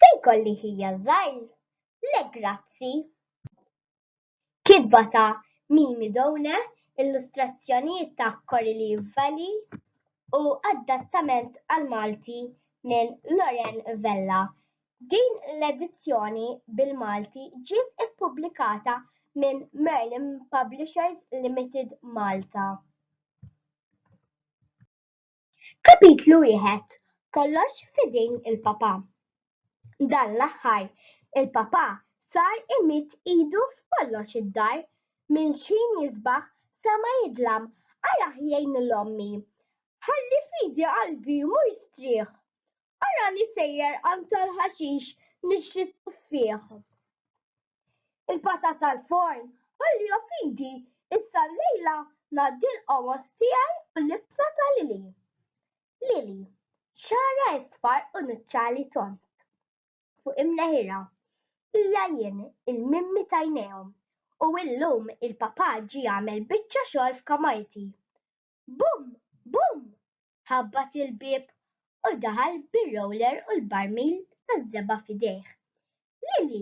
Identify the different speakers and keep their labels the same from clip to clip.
Speaker 1: Se jkolli ħija żgħir? Le grazzi. Kitba ta' Mimi Doune, illustrazzjonijiet ta' Coralie Valli u adattament għall-Malti minn Loren Vella. Din l-edizzjoni bil-Malti ġiet ippubblikata minn Merlin Publishers Limited Malta. Kapitlu Wieħed, Kollox f'idejn il-Papa Dan l-aħħar, il-Papa sar imidd idu f'kollox id-dar, minn x'ħin jisbaħ sa ma jidlam, arah jgħin lil ommi, ħalli f'idi qalbi mmur strieħ, arani sejjer għand tal-ħaxix nixtri t-tuffieħ. Il-patat tal-forn, ħalli jo fidi, issa llejla ngħaddi l-qomos tiegħi u l-ibsa ta' Lili. Lili, xagħarha isfar u nuċċali tond. Fuq imneħirha. Hija jien, il-mimmi t'għajnejhom. U illum il-papà ġie għamel biċċa xogħol f'kamarti. Bumm! Bumm! Ħabbat il-bieb u daħal bir-roller u l-barmil taż-żebgħa f'idejh. Lili,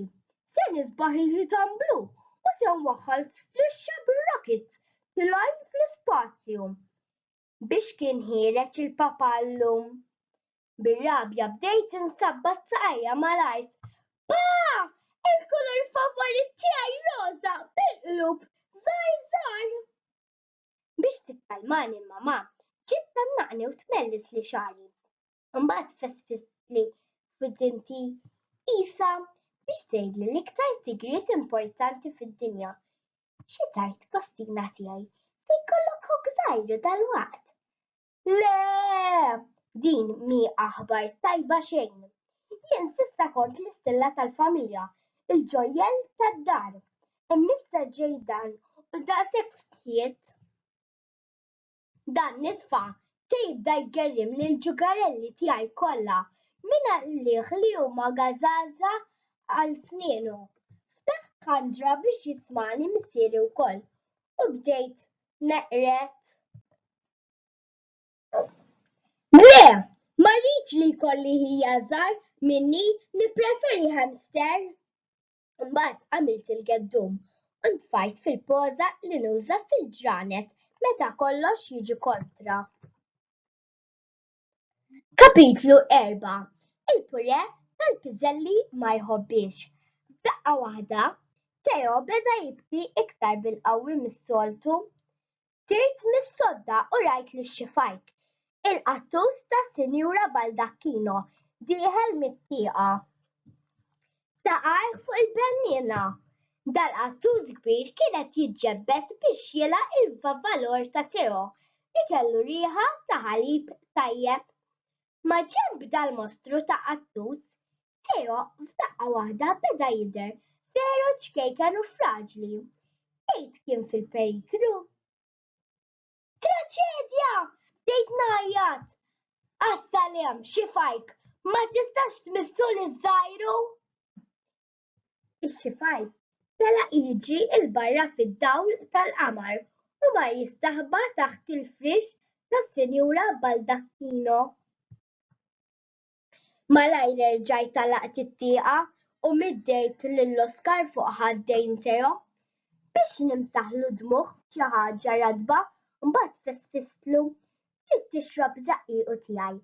Speaker 1: se nisbaħ il-ħitan blu u se nwaħħal strixxa bir-rockets tilgħin fl-ispazju! Biex kien ħiereġ il-papà llum! Bir-rabja bdejt insabbat saqajja mal-art. Pa! Il-kulur favorit tiegħi roża bil-qlub żgħar żgħar! Biex tikkalmani l-mamà ġiet tgħannaqni u tmellisli xagħri. Imbagħad fessfistli f'widinti qisha biex tgħidli l-iktar sigriet importanti fid-dinja. Xi tgħid postina tiegħi, se jkollok ħuk żgħir dalwaqt. Le! Din mi aħbar tajba xejn. Jien sissa kont l-istilla tal-familja, il-ġojjel tad-dar. Immissa ġej dan u daqshekk fstħiet. Dan nisfa se jibda jgerrim lill-ġugarelli tiegħi kollha minn għalih li huma gażaża għal snienu. Ftaħt ħanġra biex jismagħni missieri wkoll u bdejt neqred. Le, ma rridx li jkolli ħija żgħar minni, nippreferi hamster! Imbagħad għamilt il-geddum u ntfajt fil-poża li nuża fil-ġranet meta kollox jiġi kontra. Kapitlu Erba', Il-purè tal-piżelli ma jħobbiex. F'daqqa waħda, Teo beda jibki iktar bil-qawwi mis-soltu. Tirt mis-sodda u rajt li xxifajk, il-qattus tas-Sinjura Baldacchino dieħel mit-tieqa. Saqajh fuq il-benniena. Dal-qattus kbir kien qed jiġġebbed biex jilgħaq il-vavvalor ta' Teo li kellu riħa ta' ħalib tajjeb. Maġenb dal-mostru ta' qattus Teo f'daqqa waħda beda jidher veru ċkejken u fraġli. Tgħid kien fil-periklu. Traċedja! Bdejt ngħajjat. Għas-salem, xi fajk, ma tistax tmissu li żgħiru? Ix-xifaj tela' jiġi l-barra fid-dawl tal-qamar u mar jistaħba taħt il-friex tas-Sinjura Baldacchino. Malajr erġajt għalaqt it-tieqa u middejt lil Oskar fuq ħad-dejn tiegħu biex nimsaħlu d-dmugħ b'xi ħaġa ratba u mbagħad fisfistlu, Trid tixrob żaqqiqu tiegħi.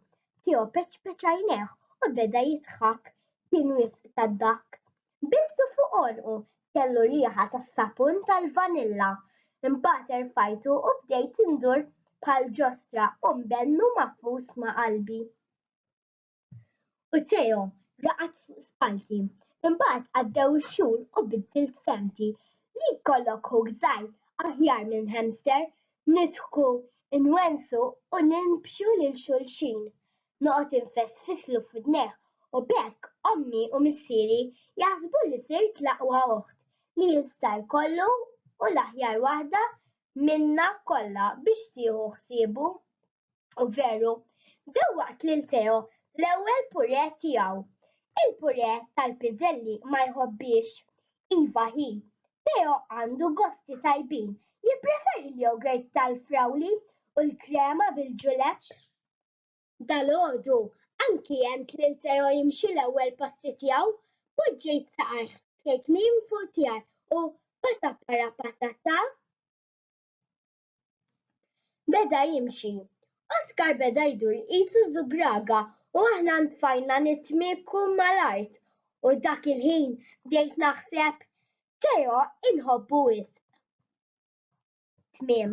Speaker 1: Teo peċpeċ għajnejh u beda jidħak. Kien wisq tad-dahk. Bistu fuq għonqu kellu riħa tas-sapun tal-vanilla. Imbagħad erfajtu u bdejt indur bħal ġostra u mbennu mafus ma' qalbi. U Teo raqad fuq spallti. Imbagħad għaddew ix-xhur u biddilt fehmti. Li jkollok ħuk żgħir aħjar minn hamster. Nidħku, inwensu u ninbxu lil xulxin. Noqgħod infessfislu f'widnejh u b'hekk ommi u missieri jaħsbu li sirt l-aqwa oħt li jista' jkollu u l-aħjar waħda minna kollha biex tieħu ħsiebu. U veru, dew waqt lil Theo l-ewwel pure tiegħu. Il-pure tal-piżelli ma jħobbiex. Iva hi, Theo għandu gosti tajbin, jippreferi l-yogurt tal-frawli u l-krema bil-ġulepp. Dalgħodu, anki għent lil Theo jimxi l-ewwel passi tiegħu, poġġejt saqajh f'kejknin fuq tiegħi u pata-para-pata-ta! Beda jimxi. Oskar beda jdur qisu żugraga u aħna ntfajna nitmiekku mal-art u dak il-ħin bdejt naħseb, Teo inħobbu wisq. Tmiem.